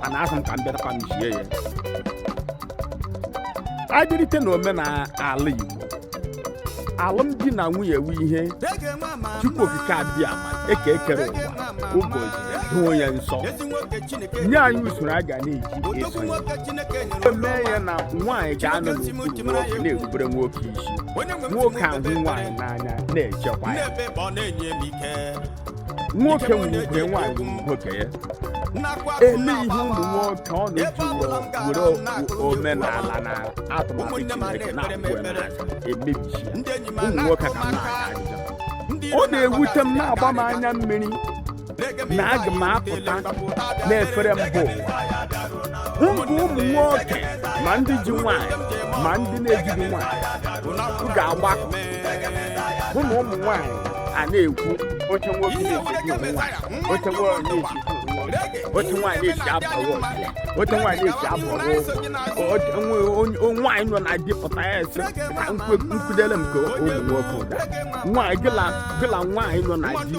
mana asị m ka m bịakwa mesie ya abịrịte na omenala igbo alụmdi na nwunye wu ihe chukwu okike abịama eke kere ụwa ụbọchị doo ya nsọ nye anyị usoro a ga na-eji eso ya mee ya na nwaanyị ga-anọ n'okpuru nwoke na-erubere nwoke isi nwoke ahụ nwaanyị n'anya na-echekwa ya nwoke nwere ugwu nwaanyị nwere ugwu ka ya ele ihe ụmụ nwoke ọ na-eji were omenala na atụmatụ chineke na-akwụ emebichi ụmụ nwoke ka na ọ na-ewute m na-agba m anya mmiri na aga m apụta n'efere mba ụwa m hụ ụmụ nwoke ma ndị ji nwaanyị ma ndị na-ejighị nwaanyị ga-agbakọ bụ na ụmụ nwaanyị a na-ekwu oche nwoke na-esi ụmụ nwaanyị oche nwaanyị na-esi ụmụ nwoke oche nwaanyị na-esi abawa ọchịa oche nwaanyị na-esi abawa ụkwụ nwaanyị nọ na di pụta ya esi ka nkwudere m ka ụmụ nwoke ụda nwaanyị gịla nwaanyị nọ na di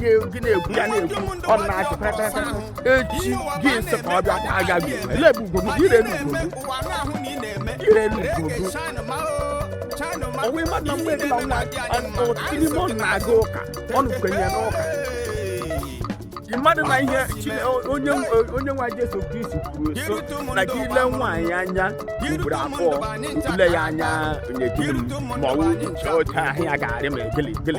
ihe gị na-ekwu ya na-ekwu ọ na-achị pịrịpịrịpịrị echi gị sị ka ọ bịa ka a gaghị ele ebe ugwu gị ire elu ugwu gị ire elu ugwu gị ọ wụ ị ma na mgbe ebila nwa ọtịlime ọ na-aga ụka ọ nụkwenye n'ụka ị madụ na ihe Chine- onye onye nwa Jesu Kristi kwuru sị na gị ile nwaanyị anya ugboro abụọ ile ya anya nyejuru m ma ọ wụ oche ahụ ya ga-arị ma egele egele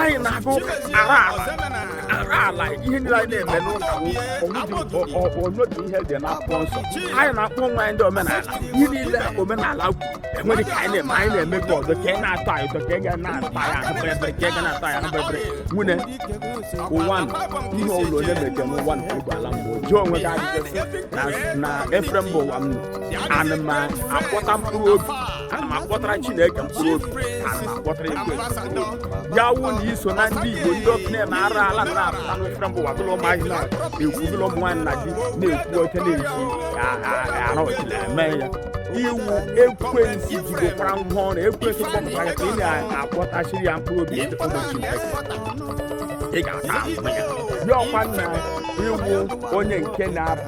anyị na-agụ ara ala ara ala ihe niile anyị na-eme n'ụka o nwedị ihe dị n'akwụkwọ nsọ anyị na-akpọ onwe anyị ndị omenala ihe niile omenala kwuru o nweghị nke anyị na-eme anyị na-eme gị ọzọ ka ị na-atọ anyị ụtọ ka ị ga na-ata ya ahụ bịrịbịrị ka ị ga na-ata ya ahụ bịrịbịrị nwune ụwa nọ ihe ọ wụla onye meke n'ụwa nke ụgbọ ala mbụ jụọ onwe gị ajụjụ sị n'efere mba ụwa m nọ ana m akpọta mkpụrụ obi ana m akpọtara chineke mkpụrụ obi ana m akpọtara ekwe ya wụ na i so na ndị igbo ndị okenye na-eme arụ ala na-apụta n'efere mba ụwa bụrụ ụmụazị na-ekwu bụrụ ụmụ nwaanyị na di na-ekwu oche na-ekwu ara ọchị na-eme ya i wu ekwensu jidekwara ngwa ọrụ ekwensu kpọpụtara ya ka ị na-akpọtachiri ya mkpụrụ obi ndị ụmụ chineke ị ga-ata ahụhụ ya ya ọ kwa na i wu onye nke na-abụ